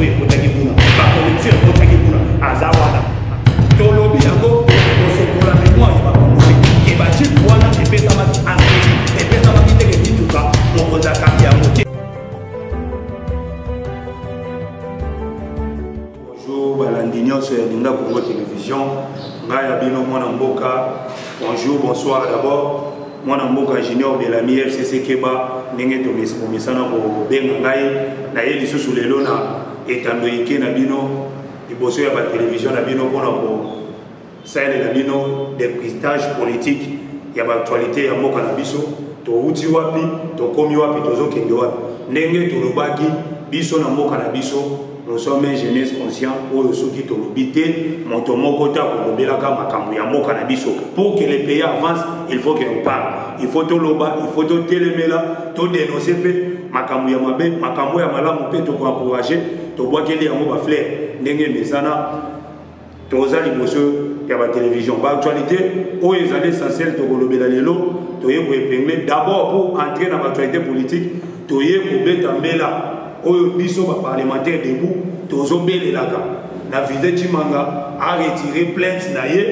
oyo ekotaki kuna bapolitire ekotaki kuna aza wana tolobi yango kosokola memoire ya bakongoli ebajipe wana epesamaki aseli epesamaki ndenge mituka mokonzi akambi yango te Bonjour balandi nyonso ya Linga Congo Television, ngai ya bino mwana mboka. Bonjour, bonsoir d'abord mwana mboka Junior Belami FCC Keba ndenge tomesana kobenga ngai na ye lisusu lelo na etando ike na bino liboso ya batelevizio na bino mpona ko salela bino depistage politique ya baactualité ya mboka na biso towuti wapi tokomi wapi tozokende wapi ndenge tolobaki biso na mboka na biso nous sommes un jeunesse conscient oyo soki tolobi te moto moko te akolobelaka makambo ya mboka na biso pour que le pays avance il faut que on parle il faut toloba il faut totelemela todenonse mpe makambo ya mabe makambo ya malamu mpe tokoencourage tobwakeli yango bafleur ndenge emesana toza liboso ya batelevision baactualité oyo ezali essentiel tokolobela lelo toye koepingle d'abord pour entrer na baactualité politique toye kobeta mbela oyo biso baparlementaire debout tozobelelaka na vise cimanga aretire plainte na ye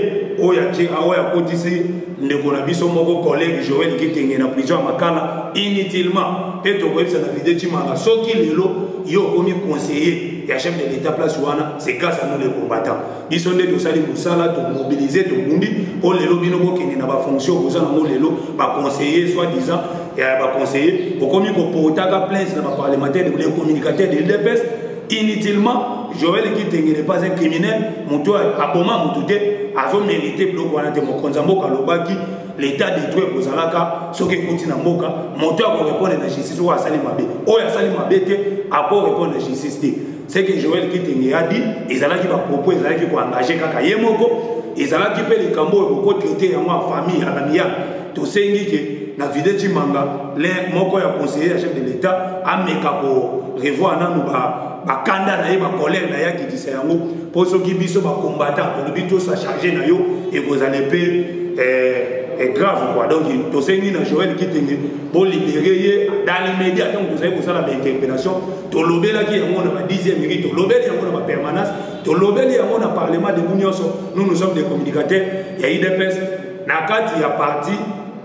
oyo ake oyo akotisi ndeko na biso moko collègue joel kitenge na prison ya makala inutilement mpe tokoyebisa na vide cimanga soki lelo yo okomi conseiller ya chef de l'état place wana C'est grâce à nous les combattants. Biso nde tosali mosala to mobiliser to bundi o lelo bino bokende na ba fonction boza na lelo ba conseiller soit disant ya ba conseiller okomi ko portaka plainte na ba parlementaire de communicateur de l'UDPS inutilement Joël Kitenge n'est pas un criminel moto aboma moto te azo mériter biloko wana te mokonza mboka lobaki l'état de droit ekozalaka soki ekoti na mboka moto akorepondre na justice oyo asali mabe oyo asali mabe te akorepondre na justice te ce que joel kitenge a dit ezalaki bapropos ezalaki koengage kaka ye moko ezalaki mpe likambo oyo bokotraite yango ya famille alamiya tosengi ke na vide cimanga le moko ya conseiller ya chef de l'état ameka korevoir nanu bakanda na ye bacolere na ye akitisa yango mpo soki biso bacombatant tolobi tosa charge na yo ekozala mpe eh, est grave quoi donc tosengi na joel kitenge bolibere ye dans l'immédiat ntango tozali kosala bainterpellation tolobelaki yango na ba 10e minute tolobeli yango na ba permanence tolobeli yango na parlement debu nyonso nous nous sommes des communicateurs ya idps na kati ya parti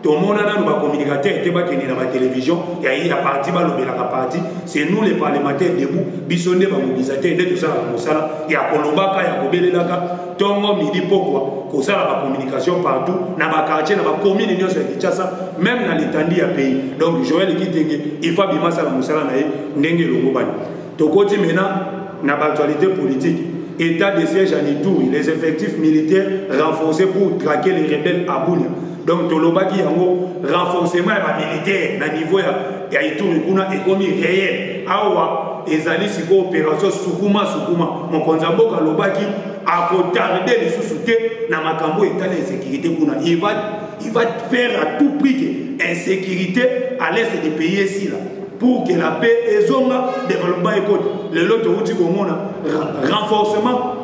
tomona nanu bacommunicateur te bakende na batelevizio ya ya parti balobelaka parti c'est nous les parlementaires debout biso nde bamobilisateur nde tosalaka mosala ya kolobaka ya kobelelaka ntongo midi pokwa kozala bacommunication partout na bakartier na bakomine nyonso ya kinshasa meme na litandi ya pays donc joel kitenge ifa bima asala mosala na ye ndenge elongobani tokoti mena na baactualité politique état de siège en ituri les effectifs militaires renforcés pour traquer les rebelles à bunia donc tolobaki yango renforcement ya bamilitaire na niveau ya, ya ituri kuna ekomi réel awa ezali sikoyo opération sukuma sukuma mokonzi ya mboka alobaki akotarde lisusu te na makambo etali insécurité kuna il va, il va faire à tout prix que insécurité à l'est du pays esila pour que la paix ezonga développement ekoti lelo towuti komona renforcement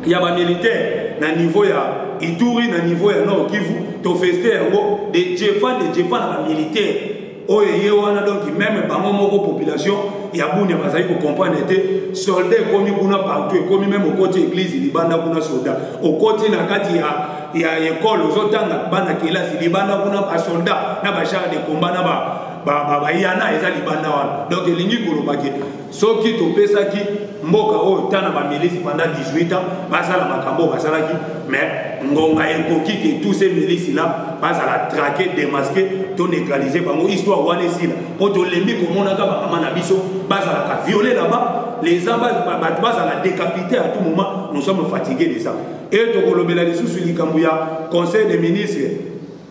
ya ba militaire na niveau ya Ituri na niveau ya Nord Kivu to feste yango de Jefa de Jefa na ba militaire oyo ye wana donc même bango moko population ya Bunia bazali ko comprendre te soldat ekomi kuna partout ekomi même okoti église libanda kuna soldat okoti na kati ya ya école ozotanga bana kelasi libanda kuna ba soldat na ba char de combat na ba bayana eza libanda wana donc elingi koloba ke soki topesaki mboka oyo ta na bamilisi pendant 18 ans basala makambo oyo basalaki mais ngonga ekoki ke tous ces milisi la bazala traque demaske to neutralise bango histoire wana esila mpo tolembi komonaka bamama na biso bazalaka viole laba les bato bazala décapité à tout moment nous sommes fatigué de ça e tokolobela lisusu likambo ya conseil des ministres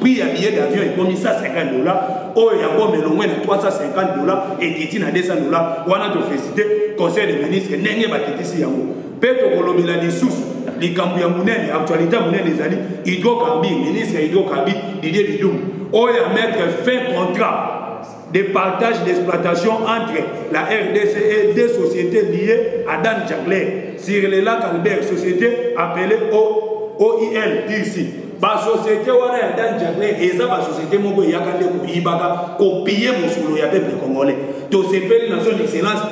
prix ya billet d'avion ekomi 150 dola oyo ya bome elongwe na 350 dola ekiti na 200 dola wana tofesite conseil de ministre ndenge bakitisi yango mpe tokolobela lisusu likambo ya monene actualité ya monene ezali hydrocarbure ministre ya hydrocarbure didie bidumu oyo ya mettre fin contrat de partage d'exploitation entre la RDC et deux sociétés liées à Dan Jagler sur le lac Albert, société appelée o, OIL d'ici. basociété wana ya dan jagler eza basociété moko eyaka nde koyibaka kopiye mosolo ya peuple congolais tosepeli na son excellence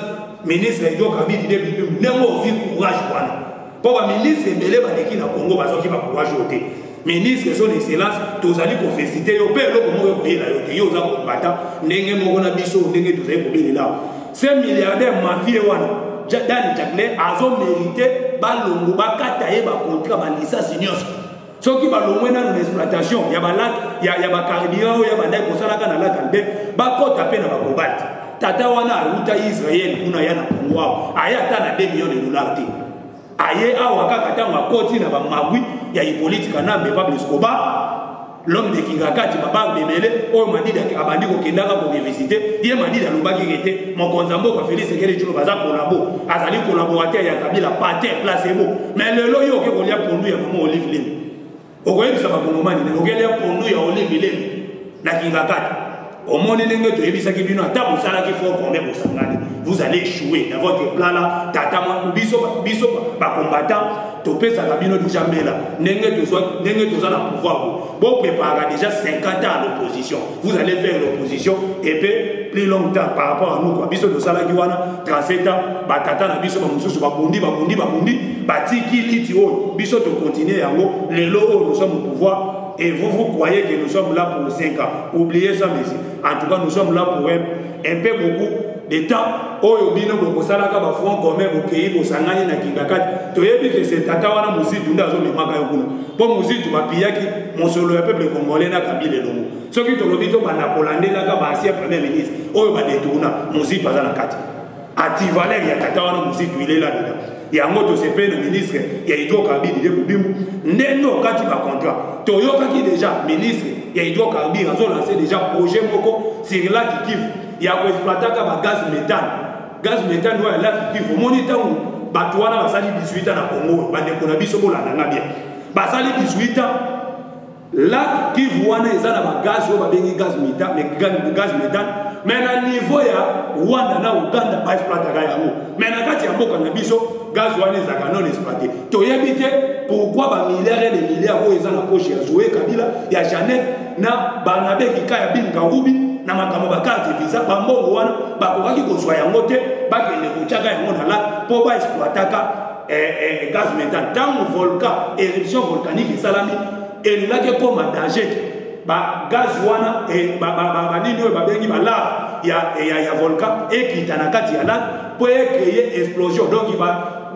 ministre edio kabidi de bitumbi ndenge ozwi courage wana mpo baministre ebele baleki na congo bazwaki bacourage oyo te ministre son excellence tozali kofesite yo mpe eloko moko ekoyela yo te yo oza kombata ndenge moko na biso ndenge tozali kobelela se milliardaire mafie wana dani jaclin azomerite balongo bakata ye bakontra balisasi nyonso soki balongwe nano na exploitation ya balake ya, ya bacarburant oyo ya bandai kosalaka na lake albert bakɔta mpe na bakobalt tata wana awuta israel kuna ya na kongo awa aye ata na 2 million de dollar te aye awa kaka ntango akoti na bamagwi ya hipolite kanambe pablo escobar l'homme de kingakati babange ebele oyo madidi abandi kokendaka korevisite ye madidi alobaki ke te mokonzi ya mboka felix ekele colo baza kolabo azali kolaborateur ya kabila pater place ebo mais lelo yo oke kolia pondu ya mama olive lemi okoyebisa bakongomani nini okelia pondu ya olive lemi na kingakati omoni ndenge toyebisaki bino ata bosalaki fo kombe bosangani vous allez échouer dans votre plan là tata mwa biso biso bacombattant topesaka bino déjà mbela ndenge toza na pouvoir Bon préparera déjà 50 ans à l'opposition. Vous allez faire l'opposition et puis plus longtemps par rapport à nous quoi. Biso dosala ki wana 37 ans ba tata na biso ba mususu ba bundi ba bundi ba bundi ba tiki liti oyo biso to continuer yango lelo oyo nous sommes au pouvoir et vous vous croyez que nous sommes là pour 5 ans. Oubliez ça messieurs. En tout cas nous sommes là pour un, un peu beaucoup leta oyo bino bokosalaka bafront commun bokei bosangani na kingakati toyebi ke se tata wana mozitu nde azomemaka yo kuna mpo mozitu bapiyaki mosolo ya peuple congolais na kabila elongo soki tolobi tobanda kolandelaka baancien premier ministre oyo badetourna mozitu aza na kati ativaler ya tata wana mozitu ilela leta yango tosepeli na ministre ya hydrocarbure de mobimbu ndenge okati bacontrat toyokaki deja ministre ya hydrocarbure azolanse deja projet moko sur laki kivu ya ko exploitaka ba gaz méthane gaz méthane oyo ya laki kivu omoni ntango bato wana basali 18 ans na congo bandeko na biso bolanda nga bien basali 18 ans laki kivu wana eza na ba gaz oyo babengi gaz méthane gaz méthane mais na niveau ya rwanda na uganda ba exploitaka yango mais na kati ya mboka na biso gaz wana ezalaka non exploité toyebi te pourquoi ba milliards et des milliards oyo eza na poche ya zoe kabila ya janete na barnabe kika ya bin karubi na makambo bakarte visa bambongo wana bakokaki kozwa yango te bakende kotyaka yango na lak mpo baexploitaka eh, eh, gaz metal ntango volcan éruption volcanique esalami elingaki ekoma danger te bagaz wana eh, banini oyo babengi balave ya volcan ekita na kati ya lak mpo ekreye explosion donc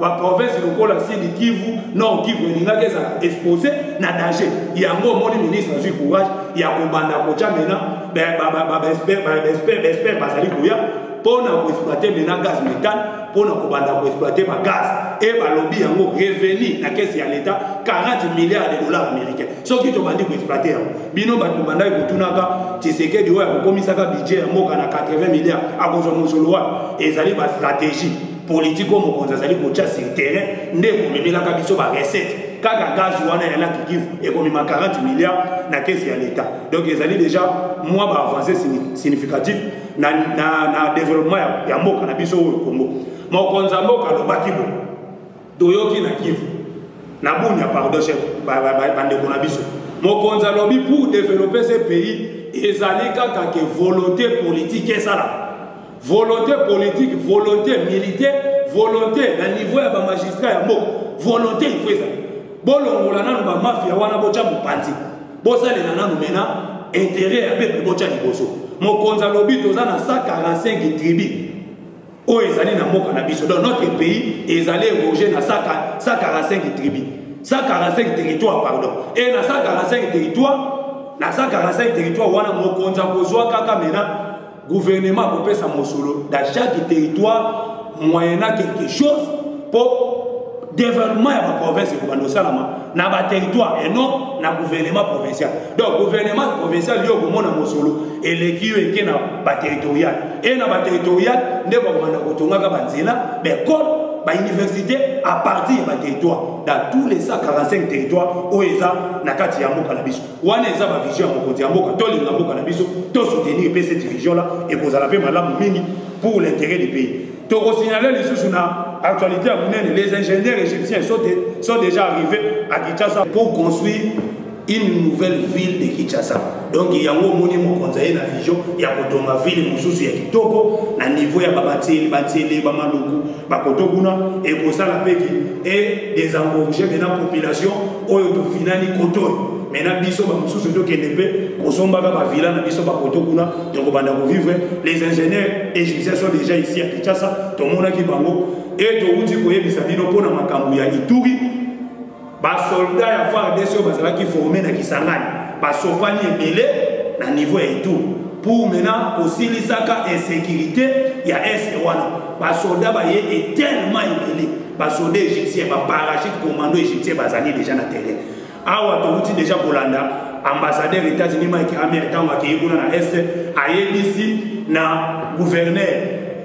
ba province lokola sud kivu nord kivu elingaki ezala expose na danger yango omoni ministre azwi courage ya kobanda kotya mena baespere bazali koya mpo na koexploite mena gaz métane mpo na kobanda koexploite bagaz e balobi yango revenu na kesi ya leta 40 milliards de dollars américain soki tobandi koexploite yango bino bato bobandaki kotunaka tisekedi oyo akokomisaka budget ya mboka na 80 milliards akozwa mosolo wapi ezali bastratégie politiki oyo mokonzi azali kotya sur terrain nde ekomemelaka biso barecette kaka gaz wana ya laki kivu ekomema 40 milliard na kesi ya leta donc ezali déjà mwa baavance significatif na, na, na développement ya, ya mboka na biso oyo kongo mokonzi ya mboka alobaki boye toyoki na kivu na bunia pardon chef bandeko na biso mokonzi alobi pour développer ce pays ezali kaka ke volonté politique esalaka volonté politique volonté militaire volonté na niveau ya bamagistrat ya mboka volonté ifo ezala bolongola nano bamafia wana botya mopanzi bosalela nano mena intérêt ya peuple botya liboso mokonzi alobi toza na 145 tribu oyo ezali na mboka na biso donc notre pays ezali eroge na 145 tribu 145 territoire pardon e na 145 territoire na 145 territoire wana mokonzi akozwa kaka mena gouvernement akopesa mosolo dans chaque territoire moyena quelque chose mpo développement ya baprovince ekobanda osalama na baterritoire et non na gouvernement provincial donc gouvernement provincial yo okomona mosolo eleki yo eke na baterritorial e na baterritorial nde bakobanda kotongaka banzela baekole bauniversité à partir ya baterritoire dans tous les 145 territoire oyo eza na kati ya mboka na biso wana eza ba vision ya mokonzi ya mboka tolinga mboka na biso to soutenir mpe cette vision là ekozala mpe malamu mingi pour l'intérêt du pays tokosignale lisusu na actualité à Mounene, les ingénieurs égyptiens sont, de, sont déjà arrivés à Kinshasa pour construire une nouvelle ville de Kinshasa. Donc il y a un moment où on a une vision, il y a une ville, il y a une toko, na niveau ya babateli, bateli, bamaluku, bakotokuna, et pour ça la paix et des engorgés de la population oyo tofinani koto me na biso bamosusu tokende mpe kosombaka bavila na biso bakoto kuna tokobanda kovivre les ingénieurs égyptiens sont déjà ici à kinshasa tomonaki bango e towuti koyebisa bino mpo na makambo ya ituri basolda ya fardc oyo bazalaki forme na kisangani basofani ebele na niveau ya ituri pour maintenant kosilisaka insécurité ya est wana basolda baye etelema ebele basoda egyptien baparachute commando egyptien bazali deja na terrain awa towuti deja kolanda ambassadeur états-unis mike amer ntango akei kuna na est ayebisi na gouverneur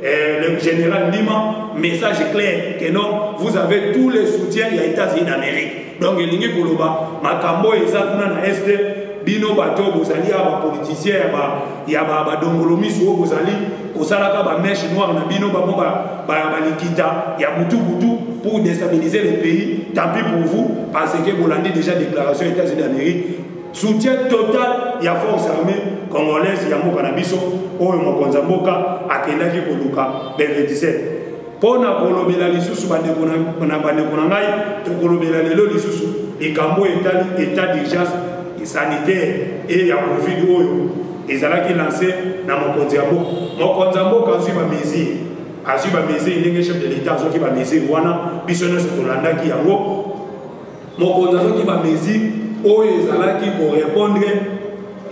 euh, le général ndima message clair que non vous avez tous les soutiens ya états-unis d'amérique donc elingi koloba makambo oyo eza kuna na este bino bato oyo bozali ya bapolitisien ya badongolo miso oyo bozali kosalaka bameshe noire na bino bango balikita ya butubutu pour destabiliser le pays tant pis pour vous parce que bolandi déjà déclaration ya états-unis d'amérique soutien total ya force armée congolaise ya mboka na biso oyo mokonzi ya mboka akendaki koluka le 27 mpo na kolobela lisusu bandeko na bandeko na ngai tokolobela lelo lisusu likambo oyo etali état d'urgence sanitaire e ya covid oyo ezalaki lance na mokonzi ya mboka mokonzi ya mboka azwi bamesure azwi bamesure ndenge chef de l'état azwaki bamesure wana biso nyonso tolandaki yango mokonzi azwaki bamesure oyo ezalaki korepondre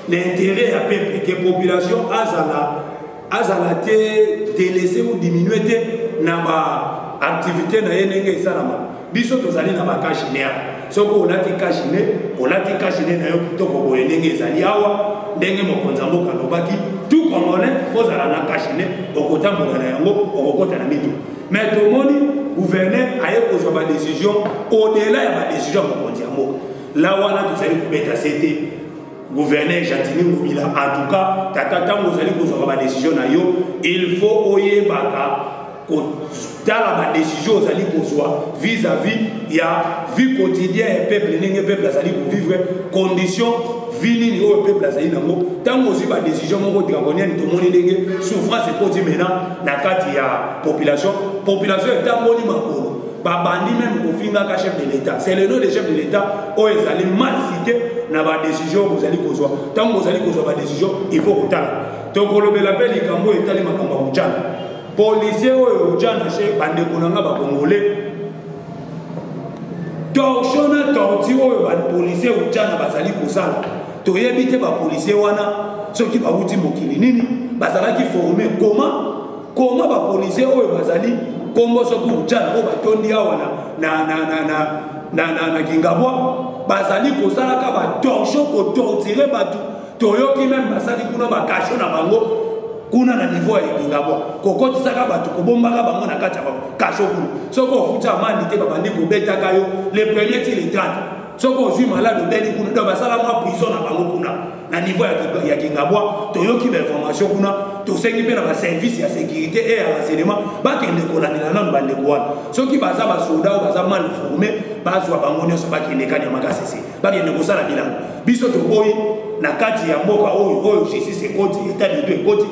na intérêt ya peuple ke population azala azala te delese ou diminue te na ba activité na ye ndenge esalama biso tozali na bakashine awa soki olati kashine olati kashine na yo kitoko boye ndenge ezali awa ndenge mokonzi ya mboka alobaki tu congolais kozala na kashine okotambola na yango okokota na mitu mais tomoni gouverneur aye kozwa badecision au-delà ya badecision ya mokonzi ya mboka la wana tozali kobeta sete gouverneur jatini ngobila en tout cas tata ntango ozali kozwaka badesizio na yo il faut oyebaka kotala badesizio ozali kozwa vis à vis ya vie quotidien ya peuple ndenge peuple azali kovivre condition vie nini oyo peuple azali nango ntango ozwi badesizio moko dragonienne tomoni ndenge souffrance ekoti mena na kati ya population population etamboli makolo babandi meme kofingaka chef de l'état c'est le nom de chef de l'état oyo ezali mal cité na badécision bozali kozwa ntango bozali kozwa badécision il faut kotala tokolobela mpe likambo oyo etali makambo ya ujana policier oyo ujana che bandeko na nga bakongole torsion na torti oyo bapolicier ujana bazali kosala toyebi te bapolicier wana soki bauti mokili nini bazalaki forme koma koma ba policier oyo bazali kombo soki ujana oyo batondi awa na, na, na, na, na, na, na, na kingabwa bazali kosalaka batorsho kotortire bato toyoki meme basali kuna bakasho na bango kuna na niveau ya kingabwa kokotisaka bato kobombaka bango na kati ya bango kasho kuna soki ofuti amandi te babandi kobetaka yo le premier ti le 30 soki ozwi malade obeli kuna do basala mwa prison na bango kuna na niveau ya kingabwa toyoki bainformation kuna tosengi mpe na baservice ya sécurité e ya renseignement bakende kolandela nano bandeko wana soki baza basoda oyo baza mal forme bazwa bango nyonso bakende kani ya makasese bakende kosala bilango biso toboyi na kati ya mboka oyo oyo justice ekoti etat de droit ekoti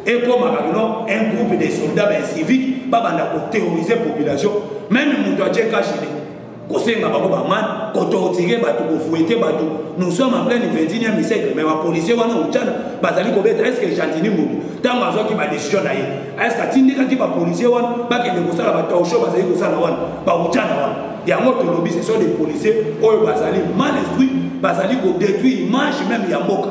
ekomaka kino un groupe de soldats bainsivique babanda koterrorise population meme moto atye kashine kosenga bango bamane kotortire bato kofuete bato nous sommes en pleine 21e siècle mais bapolicier wana uchana bazali kobeta estce que gentini motu ntango azwaki badecision na ye estce atindikaki bapolicier wana bakende kosala batorsho bazali kosala wana bauchana wana yango tolobi ce sont des policiers oyo bazali mal instruit bazali kodétruire image même ya mboka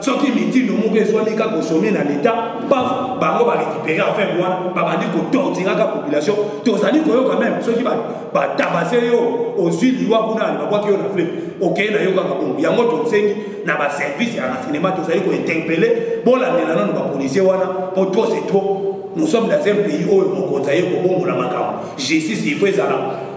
soki mitindo moko ezwami kaka kosome na leta paf bango barécupere affaire wana babandi kotortiraka population tozali koyoka meme soki batabase yo ozwi liwa kuna babwaki yo na fleve okei na yo kaka bongo yango tosengi na baservice ya renseignement tozali kointerpele bolandela nano bapolisier wana mpo trop c'est trop nous sommes dans un pays oyo mokonzi aye kobongola makambo justice il faut ezala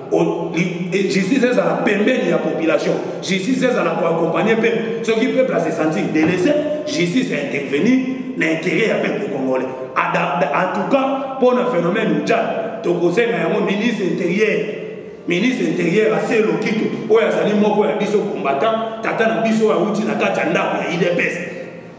justice ezala pembeni ya population justice ezala koaccompagne peuple soki peuple asesentir délaissé justice ya intervenir na intérêt ya peuple congolais en tout cas mpo na phénomène ujal tokosenga yango ministre intérieur ministre intérieur ase lokito oyo azali moko ya biso combattant tata na biso oyo awuti na kati ya ndako ya idps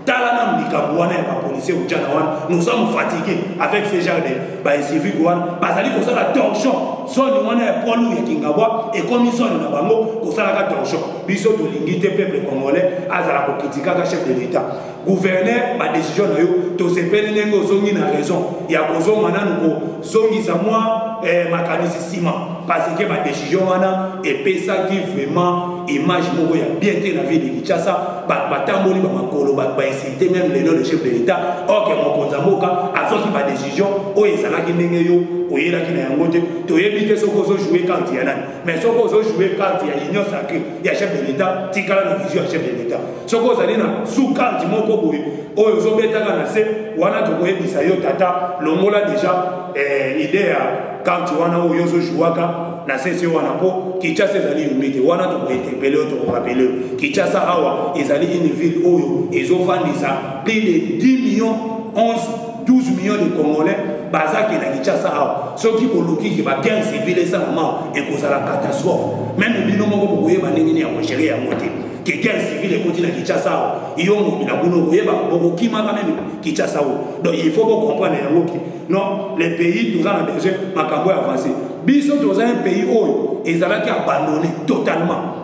tala nanu likambo wana ya bapolisier ujana wana nous sommes fatigués avec ce genre de bainsivique wana bazali kosala torsion zone wana ya poilu ya kingabwa ekomi zone na bango kosalaka torsion biso tolingi te peuple congolais azala kokritikaka chef de l'état gouverneur badécision na yo tosepeli ndenge ozongi na raison ya kozonga nanu zongisa mwa eh, makanisi nsima parce que badecision wana epesaki vraiment image moko ya bien te na vie de kinshasa bato batamboli bamakolo bato bainsulte meme lelo le chef de l'état orke mokonzi ya mboka azwaki badecision oyo ezalaki ndenge yo oyelaki na yango te toyebi te soki ozojoue karte ya nani mais soki ozojoue karte ya union sacré ya chef de l'état tikala na vision ya chef de l'état soki ozali na sous karte moko boye oyo ozobetaka na se wana tokoyebisa yo tata longola deja eh, ide ya karte wana oyo ozojuwaka na sese wana mpo kinshasa ezali yumi te wana tokointerpele yo tokorapele yo kinshasa awa ezali une ville oyo ezofandisa plus de 10 millions 11 12 millions de congolais bazaki na kinshasa awa soki bolukiki ba 15 civile esalama ekozala catastrophe meme bino moko bokoyeba ndenge nini ya kogere yango te ke guerre civile ekoti na kinshasa awa yo moto na kuna okoyeba okokimaka meme kinshasa oyo donc il faut bocomprendre yango ke non le pays toza na besoin makambo ya avance biso toza un pays oyo ezalaki abandonne totalement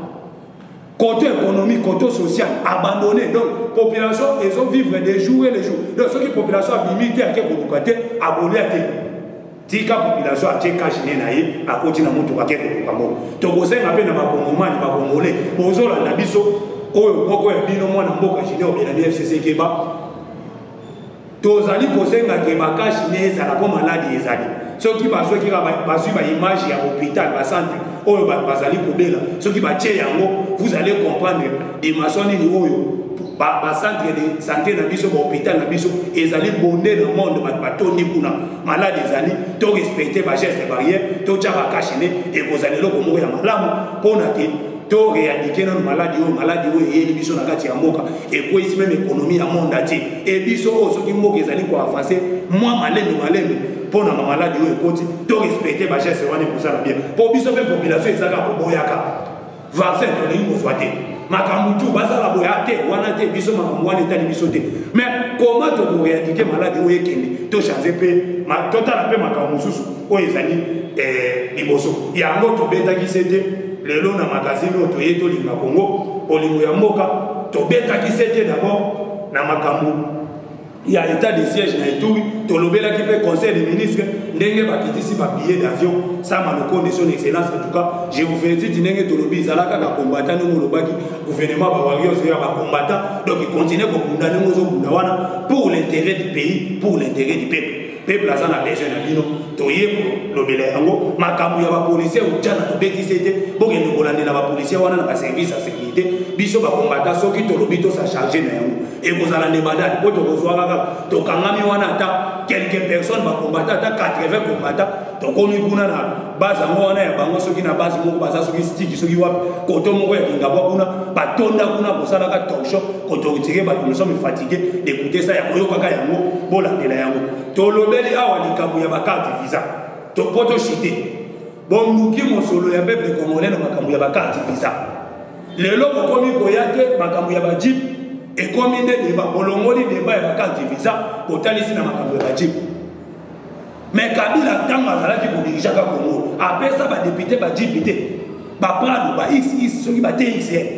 côté économique côté social abandonné donc population ezo vivre de jour et le jour donc soki population abimi te ake koluka te akolia te tika population atie cash ne na ye akoti na motuka ake koluka moko tokosenga mpe na bakongomani bakongole bozolanda biso oyo moko ya bino mwana mboka junior belani fcc keba tozali kosenga ke bakashi ne ezala mpo maladi ezali soki bazwaki bazwi baimage ya hôpital basantre oyo bato bazali kobela soki batye yango vous allez comprendre dimension nini oyo basantre de santé na biso bahôpital na biso ezali bonde na monde bato batondi kuna malade ezali to respecte bageste barrière totya bakashe ne ekozala eloko moko ya malamu mpona te to réadike nano maladi oyo maladi oyo eyeli biso na kati ya mboka ekweyisi meme ekonomi ya monde atie e biso oyo soki mboka ezali koavanse mwa malembe malembe mpo na bamaladi oyo ekoti to respecte bageste wana ekozala bien mpo biso mpe population ezaka koboyaka vaccin tolingi kozwa te makambo tu basala boya te wana te biso makambo wana etali biso te mais koma tokoreadike maladi oyo ekende tochange mpe totala mpe makambo mosusu oyo ezali eh, liboso yango tobetaki se te lelo na magazine oyo toye tolinga kongo bolingo ya mboka tobetaki se te dabord na makambo ya etat de siège na eturi tolobelaki mpe conseil des ministres ndenge bakitisi babillet d'avion sama lokonde son excellence en tout cas je vous félicite ndenge tolobi ezala kaka kombata ndenge olobaki gouvernement bawarios ya bakombata donc continue kobunda ndenge ozobunda wana pour l'intérêt du pays pour l'intérêt du peuple peuple aza na besoin na bino toye kolobela yango makambo ya bapolisier ojana tobetisi ete bokende kolandela bapolisier wana na baservice ya sécurité biso bakombata soki tolobi tosa charge na yango ekozala nde badali mpo tokozwa kaka tokangami wana ata quelques personnes bakombata ata 80 kombata tokomi kuna na base yango wana ya bango soki na base moko baza soki stiki soki wapi koto moko ya kingabwa kuna batonda kuna kosalaka torsho kotortire bato nous sommes fatigue d'écouter ça ya koyokaka yango bolandela yango tolobeli awa likambo ya bakarte visa po toshite bonduki mosolo ya peuple congolais na makambo ya bakarte visa lelo bokomi koya te makambo ya bajip ekomi nde deba bolongoli deba ya bakarte visa botalisi na makambo ya bajip me kabila ntango azalaki kodirijaka kongo apesa badepute bajip te baprado ba xx soki bate xl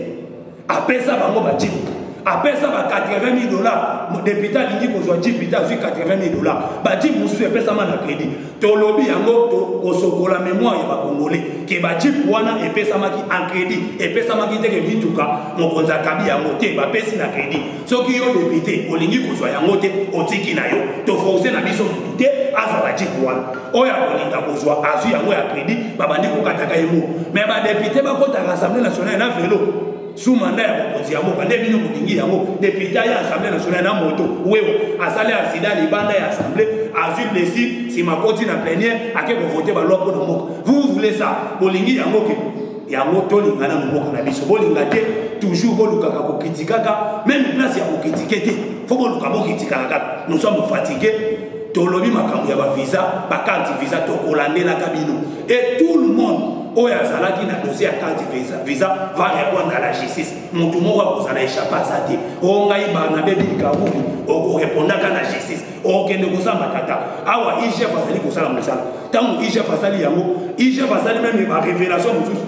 apesa bango bajipe apesa ba 80 000 dollars modepute alingi kozwa jipe te azwi 80 000 dollars bajipe mosusu epesama na kredi tolobi yango kosokola memoire ya bakongole ke bajipe wana epesamaki en kredi epesamaki te ke mituka mokonzi akabi yango te bapesi na kredi soki yo depute olingi kozwa yango te otiki na yo toforce na biso motu te azwa bajipe wana oyo akolinga kozwa azwi yango ya kredi babandi kokataka yango me badepute bakotaka assemblée nationale na velo su manda ya mokonzi ya mboka nde bino bolingi yango depute ya assemblée nationale na moto wewo asali asida libanda ya assemblée azwi blessure nsima akoti na plenière ake kovote balwa mpo na mboka vous vous voulez ça bolingi yango ke yango tolinga na mboka na biso bolinga te toujours bolukaka kokritikaka meme place ya kokritike te fo boluka bokritikaka kaka nous sommes fatigue tolobi makambo ya bavisa bacarte visa tokolandelaka bino et tout le monde oyo azalaki na dossier ya carte visa visa va répondre à la justice motu moko akozala échappe aza te o ngai barnabe bilikabubi okorepondaka na justice okende kosamba tata awa igf azali kosala mosala ntango igf asali yango igf asali meme barévélation mosusu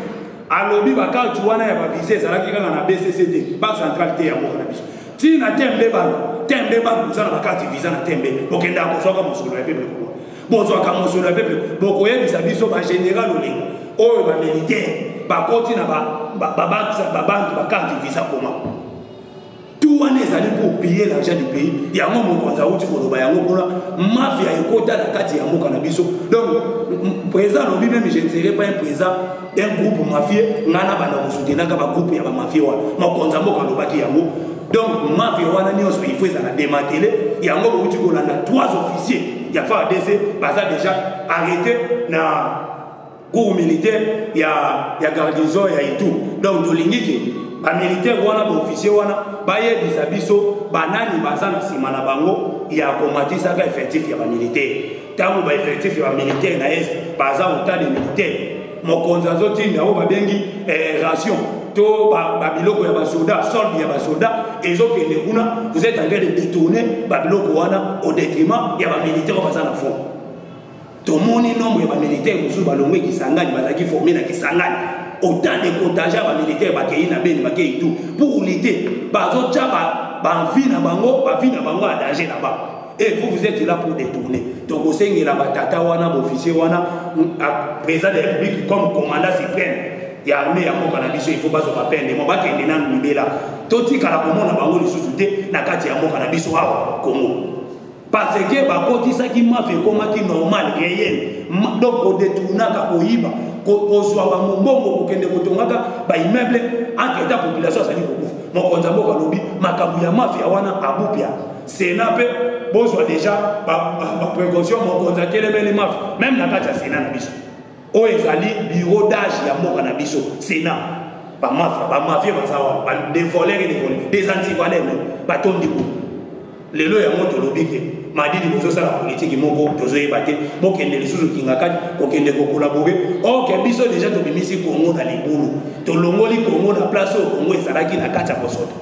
alobi bacarte wana ya bavisa ezalaki kaka na bcc te banque centrale te yango wana biso tina tembe bantu tembe bantu boza na bakati visa na tembe bokendaka kozwaka mosolo ya peple kuna bozwaka mosolo ya peple bokoyebisa biso bagénéral olingi oyo bamilitaire bakoti na babantu bakati visa koma tout wana ezali pour piller l'argent du pays yango mokonzi awuti koloba yango kuna mafia ekota na kati ya mboka na biso donc président alobi meme je ne serai pas un président un groupe mafie ngai nabanda kosutenaka bagroupe ya bamafie wana mokonzi ya mboka alobaki yango donc mafie wana nyonso il faut ezala dematele yango bouti kolanda trois officier ya fardc baza déjà arrêté na cour militaire ya, ya garnison ya itu donc tolingi ke bamilitaire wana baofficier wana bayebisa biso banani baza na nsima na bango ya komatisaka effectif ya bamilitaire ntango ba effectif ya bamilitaire na est baza otale militaire mokonzi azotinda oyo babengi eh, ration to babiloko ya basoda solde ya basoda ezokende kuna vous êtes en train de détourner babiloko wana au détriment ya bamilitaire oyo baza na fond tomoni nombre ya bamilitaire mosusu balongwe kisangani bazalaki forme na kisangani autant de contingent ya bamilitaire bakei na beni bakei tout pour lutter bazotya bavi na bango bavi na bango ya danger na bango Et vous, vous êtes là pour détourner. Donc, au sein de la batata, on a officier, on a président de la République comme commandant suprême. Il y a armée, il y a mon cannabis, il faut pas se rappeler. Mais mon bac est là, nous là. Toti kalakomo na bango lisusu te na kati ya mboka na biso awa Congo. Parce que bakotisaki mafi ekomaki normal réel. Donc kodetournaka koyiba kozwa bamombongo kokende kotongaka baimmeuble entre ta population azali kokufa mokonzi ya mboka alobi makambo ya mafia wana abupia sena mpe bozwa deja baprécaution mokonzi atelemeli mafi meme na kati ya sena na biso oyo ezali bureau d'age ya mboka na biso sena bamafia bamafia baza wana badevolere devole des antivalere batondi kuna lelo yango tolobi ke madidi bozosala politiki moko tozoyeba te bokende lisusu kingakati kokende kokolabore orke biso deja tobimisi kongo na libulu tolongoli kongo na place oyo kongo ezalaki na kati ya kosoto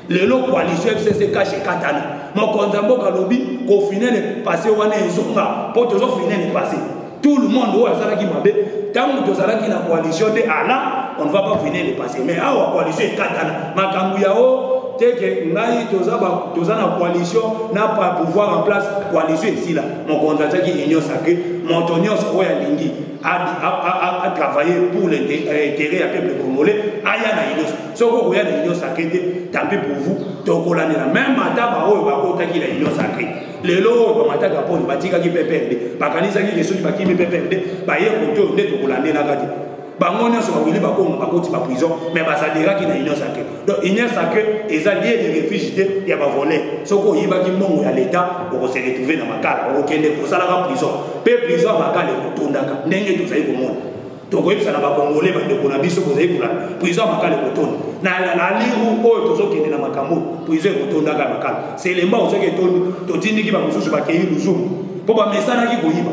lelo coalition fcc kashe katana mokonzi ya mboka alobi kofinene pase wana ezonga mpo tozofinene pase tout le monde oyo asalaki mabe ntango tozalaki na coalition te ala on ne va pas finene pase mais awa coalition ekatana makambo ya o oh, teke ngai toza, ba, toza na coalition na pouvoir en place coalition esila mokonzi atyaki union sacre moto nyonso oyo alingi a travailler pour l'intérêt euh, ya peuple congolais aya na union soki okoya na union sacré te tampi pour vous tokolandela meme ata baoyo bakotaki na union sacré lelo oyo bamataka mponi batikaki pprd bakanisaki ke soki bakimi pprd baye kote oyo nde tokolandelaka te bango nyonso bawili bakongo bakoti baprison me basaderaki na union sacré donc union sacré eza lieu de refuge te ya bavole soki oyibaki mbongo ya leta okose retrouve na makala okokende kosalaka prison mpe prison ya makala ekotondaka ndenge tozali komona tokoyebisa na bakongole bandeko na biso bozali kolala prison ya makala ekotonda na liru oyo tozokende na makambo prison ekotondaka ya makala selemba ozoki etondi totindiki bamosusu bakei luzumu mpo bamesanaki koyiba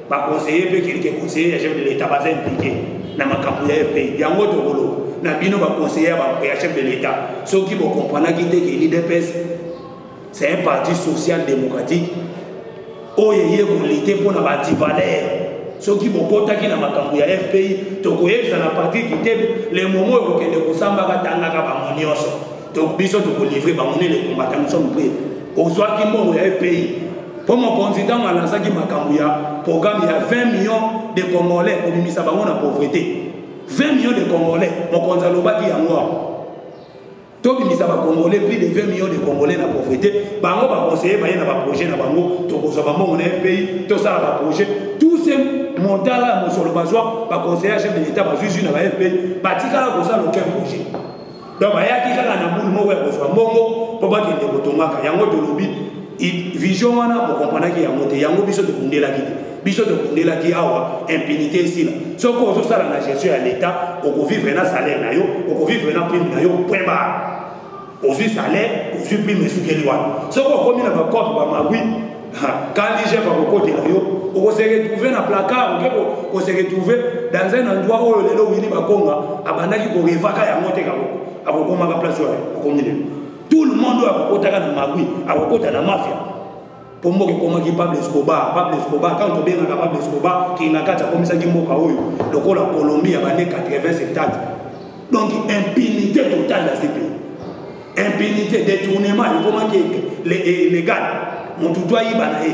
ba conseiller pe quelques conseillers ya chef de l'état baza impliqué na makambo ya fpi yango tokoloba na bino ba conseiller ya chef de l'état soki bo comprenaki te ke l'idps c'est un parti social démocratique oyo eye kolite mpo na bativalere soki bokotaki na makambo ya fpi tokoyebisa na patrik kitebe le momo oyo kokende kosambaka tangaka bango nyonso donc biso tokolivre bango nde le combattant nous sommes prêt ozwaki mbongo ya epayi mpo mokonzi ntango alansaki makambo ya programme ya 20 millions de congolais kobimisa bango na pauvreté 20 millions de congolais mokonzi alobaki yango awa tobimisa bacongolais plus de 20 millions de congolais na pauvreté bango baconseille baye na baprojet na bango tokozwa bambongo na fpi tosala baprojet tout ce montala ya mosolo bazwa baconseille ya chef de l'état bazwi zwi na ba fpi batikala kosala aucun projet donc bayaki kaka na bulu moko ya kozwa mbongo mpo bakende kotongaka yango tolobi vision wana bokomprenaki yango te yango biso tobundelaki te biso tobundelaki awa impunité esila soki ozosala na gestion ya leta okovivre na salaire na yo okovivre na prime na yo point bare ozwi salaire ozwi prime esukeli wana soki okomi na bacope bamagui Quand Jeff va vous côté là, on se retrouver dans placard, on se retrouver dans un endroit où le lot Willy Bakonga a bandaki ko revaka ya moté ka boko. Akokoma ka place wapi? Akomi lelo. Tout le monde a kokota ka na magui, a kokota na mafia. Pombo ke koma ki Pablo Escobar, Pablo Escobar quand on benga ka Pablo Escobar ki na kata komisa ki mboka oyo lokola Colombie ya bane 80 70. Donc impunité totale à ces pays. impunité détournement ekomaki légal motu to ayiba na ye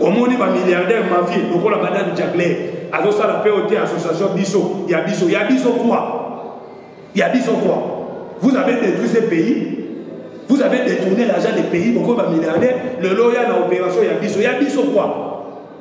omoni bamilliardaire mafie lokola madame jagler azosala mpe ote association biso ya biso ya biso quoi ya biso quoi vous avez détruit ce pays vous avez détourné l'argent des pays bokomi bamilliardaire lelo ya na opération ya biso ya biso quoi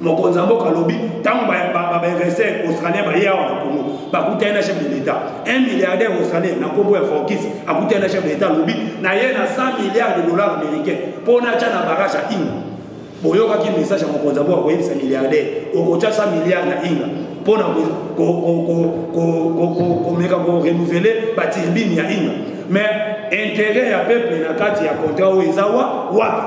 mokonzi ya mboka alobi ntango bainvestir australien baye awa na congo bakutani na chef de l'état un milliardaire australien na nkombo ya forkis akutani na chef de l'état alobi na ye na 100 milliards de dollars américain mpo natya na barrage ya inga boyokaki message ya mokonzi ya mboka koyebisa milliardaire okotya 100 milliards na inga mpo na komeka korenouvele baturbine ya inga mais intérêt ya peuple na kati ya contrat oyo eza wa wapi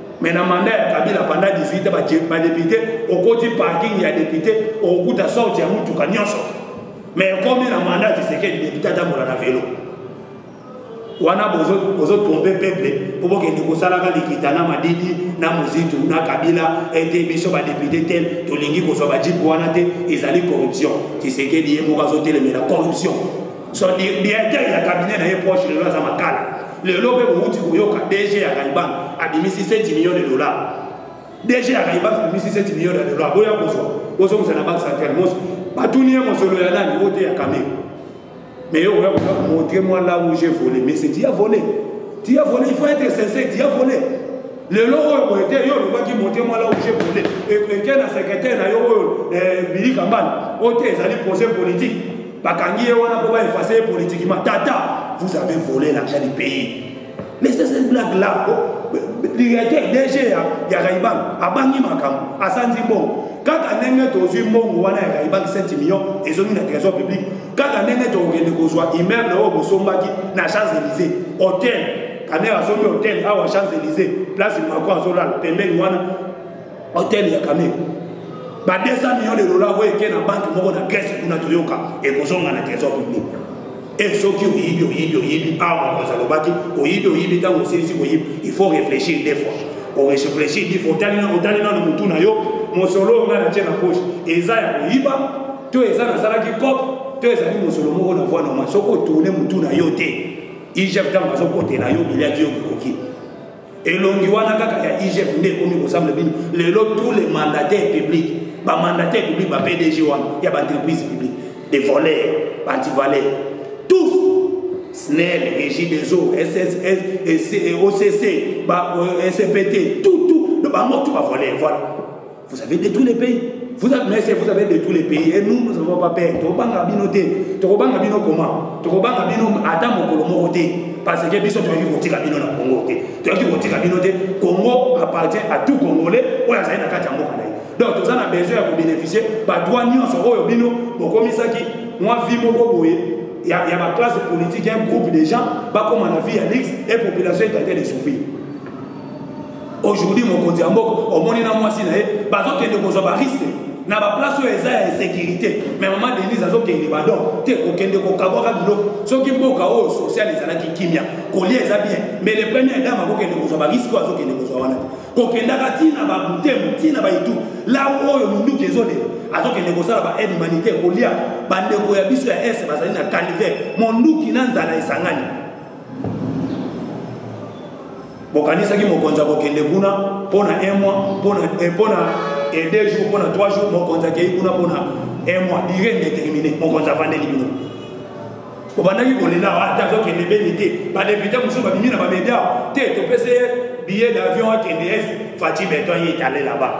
mais na mandat ya kabila panda 18 ans badepute okoti parking ya depute okokuta sorte ya motuka nyonso mais ekomi na mandat tisekedi depute atambola na velo wana bozotrompe peuple po bokende kosalaka likita na madidi na mozitu na kabila ete biso badepute tel tolingi kozwa bajipe wana te ezali corruption tisekedi ye moko azotelemela corruption so directeur ya cabinet na ye proche lelo aza makala lelo mpe bowuti koyoka dg ya raiban abimisi 7 million de dollar dg ya raiban abimisi 7 million de dollar boya kozwa bozongisa na banque centrale mos batuni ye mosolo ya nani ote ya kame mais okoya koza montre moi là où j'ai volé mais c'est dia volé dia volé il faut être sincère dia volé lelo oyo boye te yo olobaki monte mwala oje bole eke na sekretare na yo oyo eh, bilika mbala oyo te ezali projet politique bakangi ye wana mpo ba efface ye politiquement tata vous avez volé l'argent du pays mais c'est cette blague là directeur dg ya, ya raiban abangi makambo asanzi mbongo kaka ndenge tozwi mbongo wana ya raiban 7 million ezongi na trésor public kaka ndenge tokokende kozwa immeuble oyo bosombaki na champs élysée hotel kamera asombi hotel awa champs élysée place macron azolala pembeni wana hotel ya kame ba 200 millions de dollars oyo eke na banke moko na grèce kuna toyoka ekozonga na trésor public e eh, soki oyibi oyibi oyibi awa ah, mokonzi alobaki oyibi oyibi ntango osilisi koyibi il faut réfléchir deux fois oréfléchir dix fois otali nano motu na yo mosolo oyo ngai natye na poche eza ya koyiba to eza nasalaki cope to ezali mosolo moko na voi normal soki otourne motu na yo te igf ntango azokotela yo biliaki yo bikoki elongi wana kaka ya igf nde ekomi kosambla bino lelo tous les mandataires publics bamandataire public ba pdg wana ya baentreprise public des voleurs baantivaleur tous snel régie des eaux occ ba euh, cpt tout tout bango tout bavoleur voilà Vous avez détruit les pays. Vous avez, mais vous avez détruit les pays. Et nous, nous n'avons pas peur. Tokobanga bino te. Tokobanga bino comment Tokobanga bino ata mokolo moko te. Parce que biso toyaki kotika bino na Congo te. Toyaki kotika bino te. Congo appartient à tout Congolais oyo azali na kati ya mboka na ye. Donc toza na besoin ya kobénéficie badroit nyonso oyo bino bokomisaki mwa vie moko boye ya, ya baklasse politique ya groupe de gens bakoma na vie ya lix et population etante de souffrir. aujourd'hui mokonzi ya mboka omoni na mwasi na ye bazokende kozwa bariske na baplace oyo eza ya insécurité mais mama denise azokende badon te kokende kokabwaka biloko soki mboka oyo social ezalaki kimia kolia eza bien mais le premier dame akokende kozwa bariske oyo azokende kozwa wana te kokendaka ntina babutemo ntina baitu la oyo minduki ezolela azokende kosala baaide humanitaire kolia bandeko ya biso ya est bazali na calvaire monduki na nzala esangani bokanisaki mokonzi akokende kuna mpo na un mois mpo na eh, eh, deux jours mpo na trois jours mokonzi akei kuna mpo na un mois dire déterminé mokonzi avandeli bino obandaki kolela ah, ata azokende beni te badepute mosusu babimi na bamedia te topesi ye billet d'avion akende es faci beton ye etale là-bas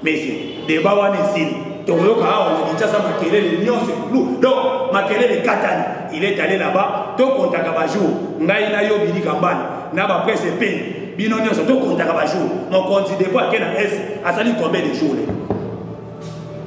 Mese, deba wana esili. Tokoyoka awa na Kinshasa makelele nyonso ekulu. Donc makelele katani. Il est allé là-bas, to kontaka ba jour. Ngai na yo bidi kambani na ba presse pe. Bino nyonso to kontaka ba jour. Mon compte dépôt akena S asali combien de jours là?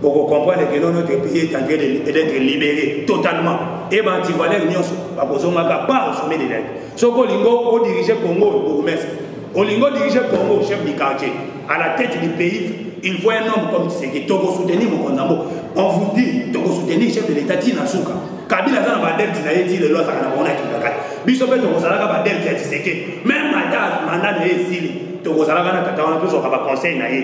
Pour comprendre que notre pays est en train d'être libéré totalement. Et ben antivalère nyonso bakozongaka par sommet de l'aide. soki olingo odirige congo bourgmestre olingo odirige congo chef du quartier à la tête du pays il faut un homme comme tshisekedi tokosoutenir mokonzi yango on vous dit tokosoutenir chef de l'état ti na suka kabila aza na badelte na ye ti lelo azalaka na bango na kingakati biso mpe tokozalaka badelte ya tshisekedi meme ata manda na ye esili tokozalaka na tata wana tozwaka baconseil na ye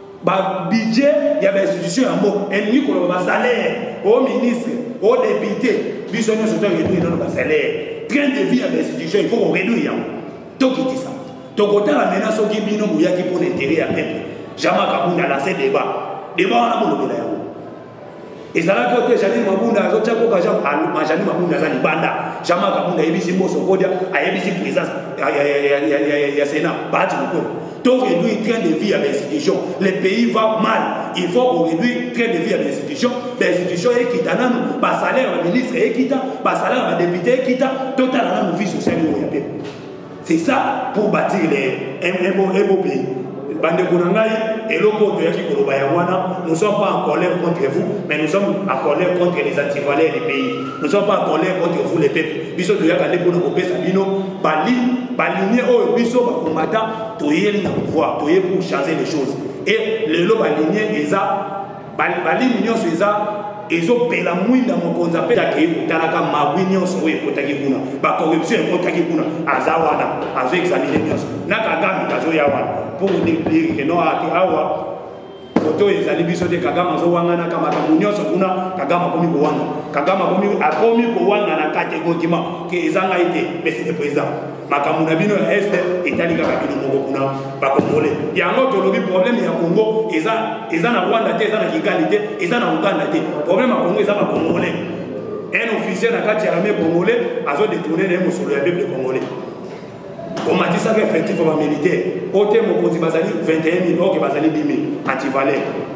babudget ya bainstitution ya mboka elingi koloba basalaire o oh, ministre o oh, depute biso nyonso to réduire nano basalaire train de vie ya bainstitution il faut koréduire yango tokitisa tokotala mena soki bino boyaki mpo na intere ya peuple jamaka bunda lase débat débat wana bolobela yango ezalaki ote janine mabunda azotya koka jean ah, janine mabunda aza libanda jean marc abunda ayebisi mboso kodia ayebisi présence ya sena baati kokolo to réduire train de vie ya bainstitution le pays va mal il faut koréduire train de vie ya bainstitution bainstitution ekita nanu basalaire ya baministre ekita basalaire ya badepute ekita totala nanu vie sociale oyo ya pepe c'est ça pour bâtir les ebopei bandeko na ngai eloko oyo toyaki koloba yango wana nous sommes pas en colère contre vous mais nous sommes en colère contre les antivaleurs du pays nous sommes pas en colère contre vous les peuples biso toyaka nde mpona kopesa bino balinie oyo biso bakombata toyeli na pouvoir toye pour changer les choses e lelo balinie eza balini nyonso eza ezopela mwinda mokonzi apesa akei kotalaka mabwi nyonso oyo ekotaki kuna bacorruption ekotaki kuna aza wana azo examine nyonso na kagame azoya wana mpo kodeplire ke no ake awa moto oyo ezali biso te kagame azowanganaka makambo nyonso kuna kagame akomi kowanga kagame akomi kowanga na kati egotima ke eza ngai te mais c'est le président makambo na bino ya este etali kaka bino moko kuna bakongole yango tolobi problème ya congo eza eza na rwanda te eza na kigali te eza na uganda te problème ya congo eza bakongole un officier na kati ya armée congolais azodetourne na ye mosolo ya peuple congolais omatisaka effectif ya bamilitaire ote mokonzi bazali 21 000 oke bazali 10 000 antivaleur